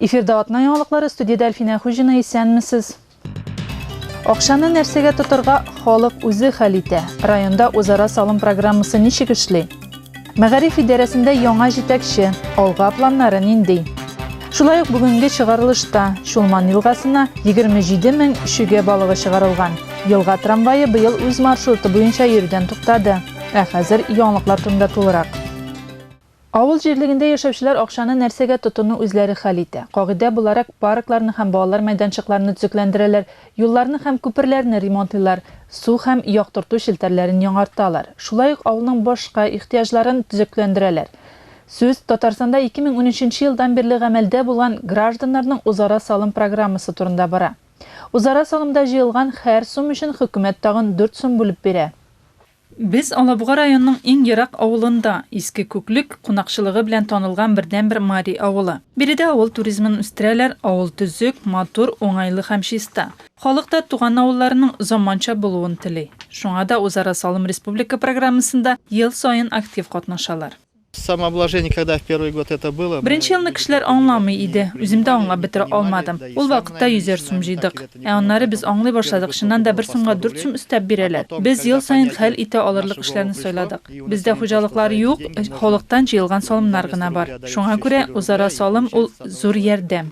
Эфирда атна яңалыклары студияда Әлфинә Хуҗина исәнмесез. Акчаны нәрсәгә тотырга халык үзе хәл итә. Районда үзара салым программасы ничек эшли? Мәгариф идарәсендә яңа җитәкче, алга планнары нинди? Шулай ук бүгенге чыгарылышта Чулман елгасына 27 мең шүгә балыгы чыгарылган. Елга трамвае быел үз маршруты буенча йөрүдән туктады. Ә хәзер яңалыклар турында тулырак. Авыл җирлегендә яшәүчеләр акчаны нәрсәгә тотыну үзләре хәл итә. Кагыйдә буларак, паркларны һәм балалар мәйданчыкларны төзекләндерәләр, юлларны һәм күперләрне ремонтлыйлар, су һәм яктырту челтәрләрен яңарталар. Шулай ук авылның башка ихтыяҗларын төзекләндерәләр. Сүз Татарстанда 2013 елдан бирле гамәлдә булган Гражданнарның үзара салым программасы турында бара. Үзара санымда җыелган хәр сум өчен хөкүмәт тагын дүрт сум бүлеп бирә. Без Алабуга районының иң ерак авылында, Иске Күклек, кунакчылыгы белән танылган бердәнбер мари авылы. Биредә авыл туризмын үстерәләр, авыл төзек, матур, уңайлы һәм чиста. Халык та туган авылларының заманча булуын тели. Шуңа да Үзара салым республика программасында ел саен актив катнашалар. Самообложение когда в первый год это было? Беренче елны кешеләр аңламый иде, үзем дә аңлап бетерә алмадым. Ул вакытта йөзәр сум җыйдык. Ә аннары без аңлый башладык, чыннан да бер сумга дүрт сум өстәп бирәләр. Без ел саен хәл итә алырлык эшләрне сайладык. Бездә хуҗалыклар юк, халыктан җыелган салымнар гына бар. Шуңа күрә, үзара салым, ул, зур ярдәм.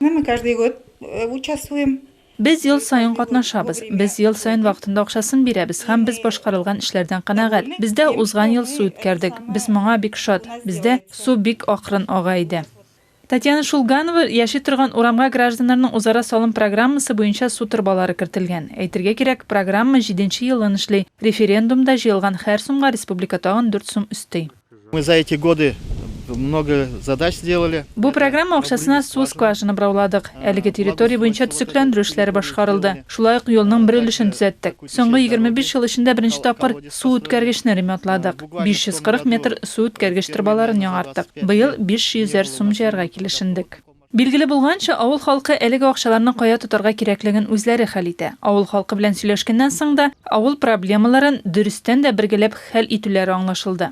Ну, мы каждый год э, участвуем. Без ел саен катнашабыз. Без ел саен вакытында акчасын бирәбез һәм без башкарылган эшләрдән канәгать. Бездә узган ел су үткәрдек. Без моңа бик шат. Бездә су бик акрын ага иде. Татьяна Шулганова яши торган урамга гражданнарның узара салым программасы буенча су торбалары кертелгән. Әйтергә кирәк, программа җиденче елын эшли. Референдумда җыелган һәр сумга республика тагын дүрт сум өсти. Мы за эти годы много задач сделали. Бу программа акчасына су скважина бырауладык. Әлеге территория буенча төзекләндерү эшләре башкарылды. Шулай ук юлның бер өлешен төзәттек. Соңгы 25 ел эчендә беренче тапкыр су үткәргечне ремонтладык. 540 метр су үткәргеч торбаларын яңарттык. Быел 500 әр сум җыярга килешендек. Билгеле булганча, авыл халкы әлеге акчаларны кая тотарга кирәклеген үзләре хәл итә. Авыл халкы белән сөйләшкәннән соң да, авыл проблемаларын, дөрестән дә, бергәләп хәл итүләре аңлашылды.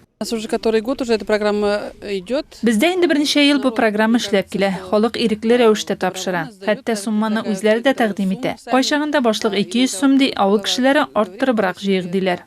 Бездә инде берничә ел бу программа эшләп килә. Халык ирекле рәвештә тапшыра. Хәтта сумманы үзләре дә тәкъдим итә. Кайчагында башлык 200 сум ди, авыл кешеләре, арттырыбрак җыйыйк, диләр.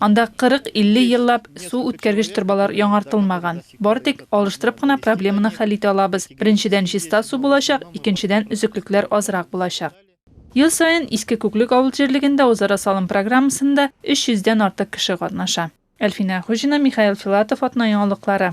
Анда 40-50 еллап су үткәргеч торбалар яңартылмаган. Бары тик алыштырып кына проблеманы хәл итә алабыз. Беренчедән, чиста су булачак, икенчедән, өзеклекләр азрак булачак. Ел саен Иске Күклек авыл җирлегендә Үзара салым программасында 300 дән артык кеше катнаша. Әлфинә Хуҗина, Михаил Филатов, Атна яңалыклары.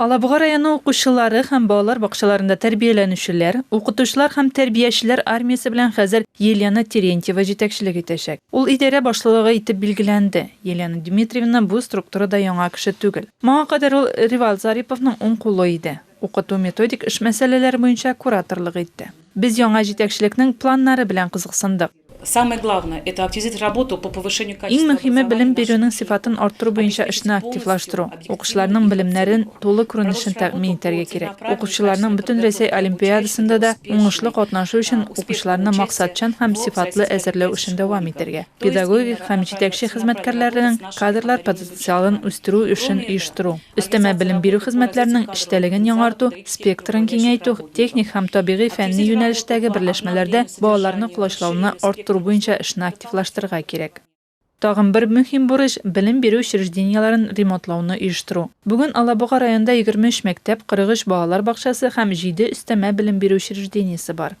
Алабуга районы укучылары һәм балалар бакчаларында тәрбияләнүчеләр, укытучылар һәм тәрбиячеләр армиясе белән хәзер Елена Терентьева җитәкчелек итәчәк. Ул идарә башлыгы итеп билгеләнде. Елена Дмитриевна бу структурада яңа кеше түгел. Моңа кадәр ул Ревал Зариповның уң кулы иде. Укыту-методик эш мәсьәләләре буенча кураторлык итте. Без яңа җитәкчелекнең планнары белән кызыксындык. Иң мөһиме, белем бирүнең сыйфатын арттыру буенча эшне активлаштыру. Укучыларның белемнәрен тулы күренешен тәэмин итәргә кирәк. Укучыларның Бөтенрәсәй олимпиадасында да уңышлы катнашу өчен укучыларны максатчан һәм сыйфатлы әзерләү эшен дәвам итәргә, педагогик һәм җитәкче хезмәткәрләренең кадрлар потенциалын үстерү эшен оештыру. Өстәмә белем бирү хезмәтләренең эчтәлеген яңарту, спектрын киңәйтү, техник һәм табигый-фәнни юнәлештәге берләшмәләрдә балаларны колачлауны арттыру буенча эшне активлаштырырга кирәк. Тагын бер мөһим бурыч, белем бирү учреждениеләрен ремонтлауны оештыру. Бүген Алабуга районында 23 мәктәп, 43 балалар бакчасы һәм җиде өстәмә белем бирү учреждениесе бар.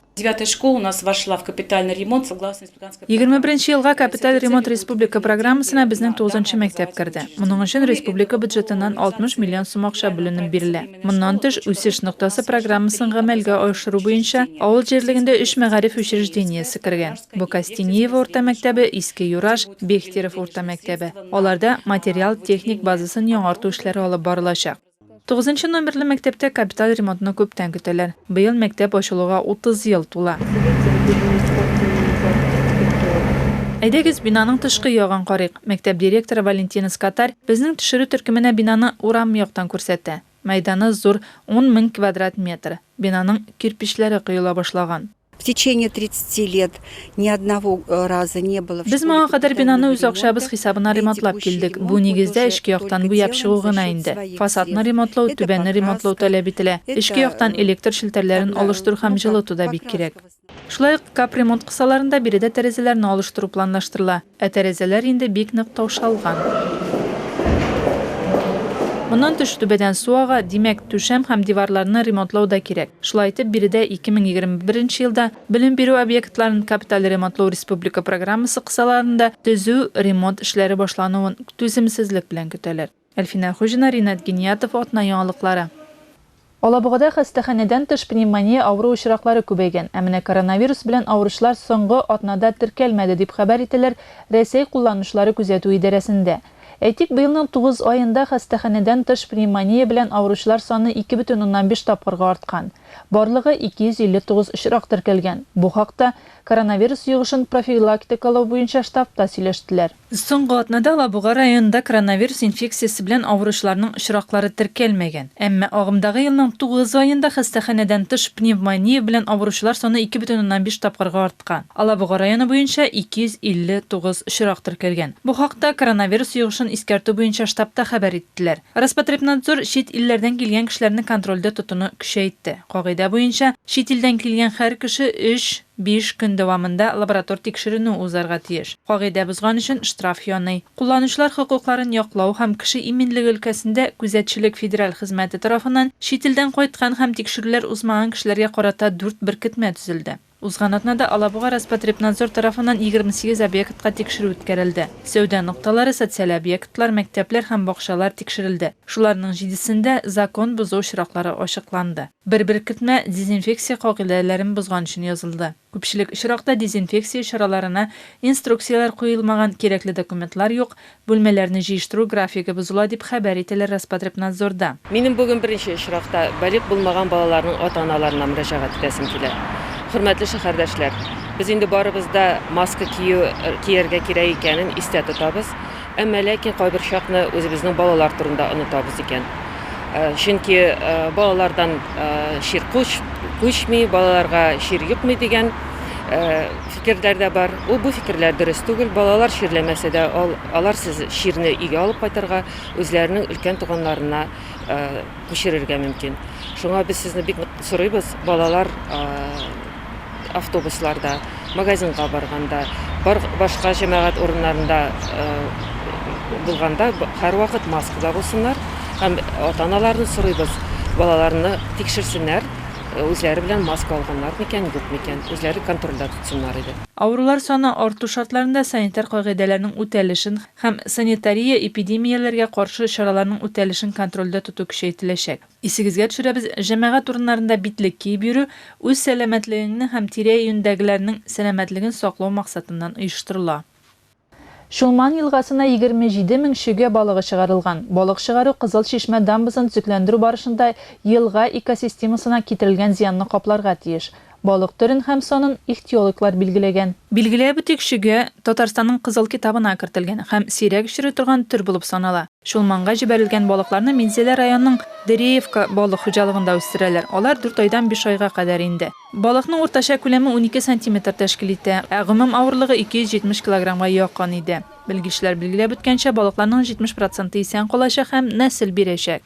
Егерме беренче елга капиталь ремонт республика программасына безнең тугызынчы мәктәп керде. Моның өчен республика бюджетыннан 60 миллион сум акча бүленеп бирелә. Моннан тыш, Үсеш ноктасы программасын гамәлгә аешыру буенча авыл җирлегендә өч мәгариф учреждениесе кергән. Бу Костениево урта мәктәбе, Иске Юраш, Бехтерев урта мәктәбе. Аларда материал-техник базасын яңарту эшләре алып барылачак. Тугызынчы номерлы мәктәптә капиталь ремонтны күптән көтәләр. Быел мәктәп ачылуга 30 ел тула. Әйдәгез, бинаның тышкы ягын карыйк. Мәктәп директоры Валентина Скатарь безнең төшерү төркеменә бинаны урам яктан күрсәтә. Мәйданы зур, ун мең квадрат метр. Бинаның кирпечләре коела башлаган. В течение 30 лет ни одного э, раза не было. Без моңа кадәр бинаны үз акчабыз хисабына ремонтлап килдек. Бу нигездә эчке яктан буяп чыгу гына инде. Фасадны ремонтлау, түбәнне ремонтлау таләп ителә. Эчке яктан э, электр челтәрләрен алыштыру һәм җылыту да бик кирәк. Шулай ук капремонт кысаларында биредә тәрәзәләрне алыштыру планлаштырыла. Ә тәрәзәләр инде бик нык таушалган. Моннан тыш, түбәдән су ага, димәк, түшәм һәм диварларны ремонтлау да кирәк. Шулай итеп, биредә 2021 нче елда белем бирү объектларын капиталь ремонтлау республика программасы кысаларында төзү, ремонт эшләре башлануын түземсезлек белән көтәләр. Әлфинә Хуҗина, Ринат Гиниятов, Атна яңалыклары. Алабугада хастаханәдән тыш пневмония авыру очраклары күбәйгән. Ә менә коронавирус белән авыручылар соңгы атнада теркәлмәде, дип хәбәр итәләр Рәсәй кулланучылары күзәтү идарәсендә. Әйтик, быелның тугыз аенда хастаханәдән тыш пневмония белән авыручылар саны ике бөтен уннан биш тапкырга арткан. Барлыгы 259 очрак теркәлгән. Бу хакта Коронавирус йогышын профилактикалау буенча штабта сөйләштеләр. Соңгы атнада Лабуга районында коронавирус инфекциясе белән авыручыларның очраклары теркәлмәгән. Әмма агымдагы елның тугыз аенда хастаханәдән тыш пневмония белән авыручылар саны ике бөтен уннан биш тапкырга арткан. Алабуга районы буенча 259 очрак теркәлгән. Бу хакта коронавирус йогышын искәртү буенча штабта хәбәр иттеләр. Роспотребнадзор чит илләрдән килгән кешеләрне контрольдә тотуны көчәйтте. Кагыйдә буенча, чит илдән килгән һәр кеше өч, Биш көн дәвамында лаборатор тикшеренү узарга тиеш. Кагыйдә бозган өчен штраф яный. Кулланучылар хокукларын яклау һәм кеше иминлеге өлкәсендә Күзәтчелек федераль хезмәте тарафыннан чит илдән кайткан һәм тикшерүләр узмаган кешеләргә карата дүрт беркетмә төзелде. Узган атнада Алабуга Роспотребнадзор тарафыннан егерме сигез объектка тикшерү үткәрелде. Сәүдә нокталары, социаль объектлар, мәктәпләр һәм бакчалар тикшерелде. Шуларның җидесендә закон бозу очраклары ачыкланды. Бер беркетмә дезинфекция кагыйдәләрен бозган өчен язылды. Күпчелек очракта дезинфекция чараларына инструкцияләр куелмаган, кирәкле документлар юк, бүлмәләрне җыештыру графигы бозыла, дип хәбәр ителә Роспотребнадзорда. Минем бүген беренче очракта балигъ булмаган балаларның ата-аналарына мөрәҗәгать итәсем килә. Хөрмәтле шәһәрдәшләр, без инде барыбыз да маска кию, кияргә кирәк икәнен истә тотабыз. Әмма ләкин кайбер чакны үзебезнең балалар турында онытабыз икән. Чөнки балалардан чир куч, күчми, балаларга чир йокмый дигән фикерләр дә бар. Ул бу фикерләр дөрес түгел. Балалар чирләмәсә дә, алар сез чирне өйгә алып кайтырга, үзләренең өлкән туганнарына күчерергә мөмкин. Шуңа без сезне бик нык сорыйбыз, балалар автобусларда, магазинга барганда, бар башка җәмәгать урыннарында булганда һәрвакыт маскада булсыннар һәм ата-аналарны сорыйбыз, балаларны тикшерсеннәр, үзләре белән маска алганнар микән, юк микән, үзләре контрольдә тотсыннар иде. Авырулар саны арту шартларында санитар кагыйдәләрнең үтәлешен һәм санитария-эпидемияләргә каршы чараларның үтәлешен контрольдә тоту көчәйтеләчәк. Исегезгә төшерәбез, җәмәгать урыннарында битлек киеп йөрү, үз сәламәтлегеңнең һәм тирә-юньдәгеләрнең сәламәтлеген саклау максатыннан оештырыла. Чулман елгасына 27 мең чөгә балыгы чыгарылган. Балык чыгару Кызыл Чишмә дамбасын төзекләндерү барышында елга экосистемасына китерелгән зыянны капларга тиеш. Балык төрен һәм санын ихтиологлар билгеләгән. Билгеләп үтик, чөгә Татарстанның Кызыл китабына кертелгән һәм сирәк очрый торган төр булып санала. Чулманга җибәрелгән балыкларны Минзәлә районының Дыреевка балык хуҗалыгында үстерәләр, алар дүрт айдан биш айга кадәр инде. Балыкның уртача күләме унике сантиметр тәшкил итә, ә гомум авырлыгы 270 килограммга якын иде. Белгечләр билгеләп үткәнчә, балыкларның 70 проценты исән калачак һәм нәсел бирәчәк.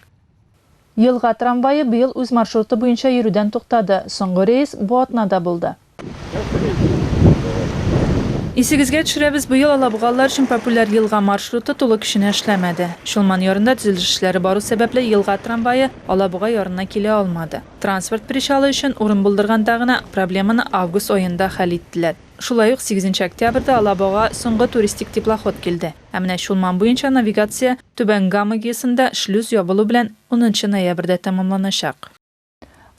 Елга трамвае быел үз маршруты буенча йөрүдән туктады, соңгы рейс бу атнада булды. Исегезгә төшерәбез, быел алабугалылар өчен популяр елга маршруты тулы көченә эшләмәде. Чулман ярында төзелеш эшләре бару сәбәпле, елга трамвае Алабуга ярына килә алмады. Транспорт причалы өчен урын булдырганда гына, проблеманы август аенда хәл иттеләр. Шулай ук сигезенче октябрьдә Алабугага соңгы туристик теплоход килде. Ә менә Чулман буенча навигация Түбән Гама ГЭСында шлюз ябылу белән унынчы ноябрьдә тәмамланачак.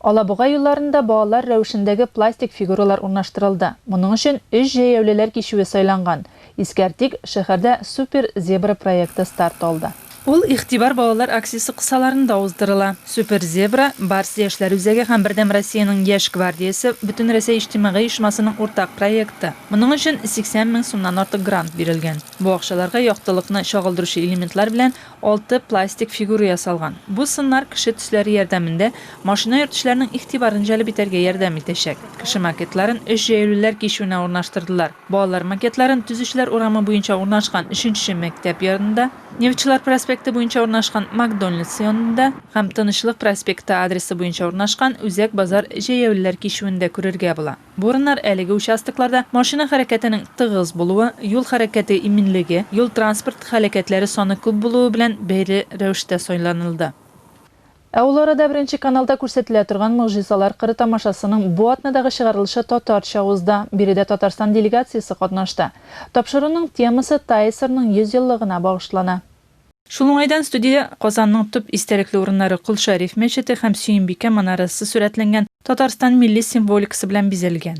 Алабуга юлларында балалар рәвешендәге пластик фигуралар урнаштырылды. Моның өчен өч җәяүлеләр кичүе сайланган. Искәртик, шәһәрдә Супер зебра проекты старт алды. Ул Игътибар балалар акциясе кысаларында уздырыла. Супер Зебра, Барс яшьләр үзәге һәм Бердәм Россиянең Яшь гвардиясе Бөтенрәсәй иҗтимагый оешмасының уртак проекты. Моның өчен 80 мең сумнан артык грант бирелгән. Бу акчаларга яктылыкны чагылдыручы элементлар белән алты пластик фигура ясалган. Бу сыннар кеше төсләре ярдәмендә машина йөртүчеләрнең игътибарын җәлеп итәргә ярдәм итәчәк. Кеше макетларын өч җәяүлеләр кичүенә урнаштырдылар. Балалар макетларын Төзүчеләр урамы буенча урнашкан өченче мәктәп янында, Нефтьчеләр проспекты буенча урнашкан Макдональдс янында һәм Тынычлык проспекты адресы буенча урнашкан Үзәк базар җәяүлеләр кичүендә күрергә була. Бу урыннар әлеге участокларда машина хәрәкәтенең тыгыз булуы, юл хәрәкәте иминлеге, юл-транспорт һәлакәтләре саны күп булуы белән бәйле рәвештә сайланылды. Ә ул арада Беренче каналда күрсәтелә торган Могҗизалар кыры тамашасының бу атнадагы чыгарылышы татарча узды. Биредә Татарстан делегациясе катнашты. Тапшыруның темасы ТАЭСРның 100 еллыгына багышлана. Шул уңайдан студиядә Казанның төп истәлекле урыннары Кол Шәриф мәчете һәм Сөембикә манарасы сурәтләнгән Татарстан милли символикасы белән бизәлгән.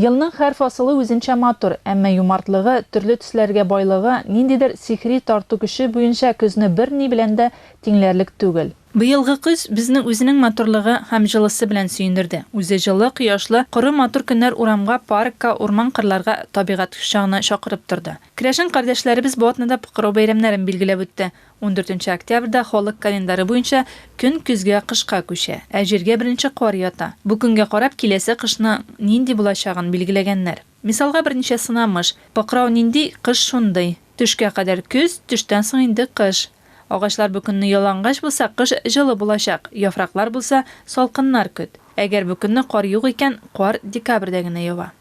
Елның һәр фасылы үзенчә матур, әмма юмартлыгы, төрле төсләргә байлыгы, ниндидер сихри тарту көче буенча көзне берни белән дә тиңләрлек түгел. Быелгы көз безне үзенең матурлыгы һәм җылысы белән сөендерде. Үзе җылы, кояшлы, коры матур көннәр урамга, паркка, урман-кырларга, табигать кочагына чакырып торды. Керәшен кардәшләребез бу атнада Покрау бәйрәмнәрен билгеләп үтте. Ундүртенче октябрьдә халык календары буенча көн көзгә, кышка күчә, ә җиргә беренче кар ята. Бу көнгә карап киләсе кышның нинди булачагын билгеләгәннәр. Мисалга берничә сынамыш, Покрау нинди, кыш шундый. Төшкә кадәр көз, төштән соң инде кыш. Агачлар бу көнне ялангач булса, кыш җылы булачак, яфраклар булса, салкыннар көт. Әгәр бу көнне кар юк икән, кар декабрьдә генә ява.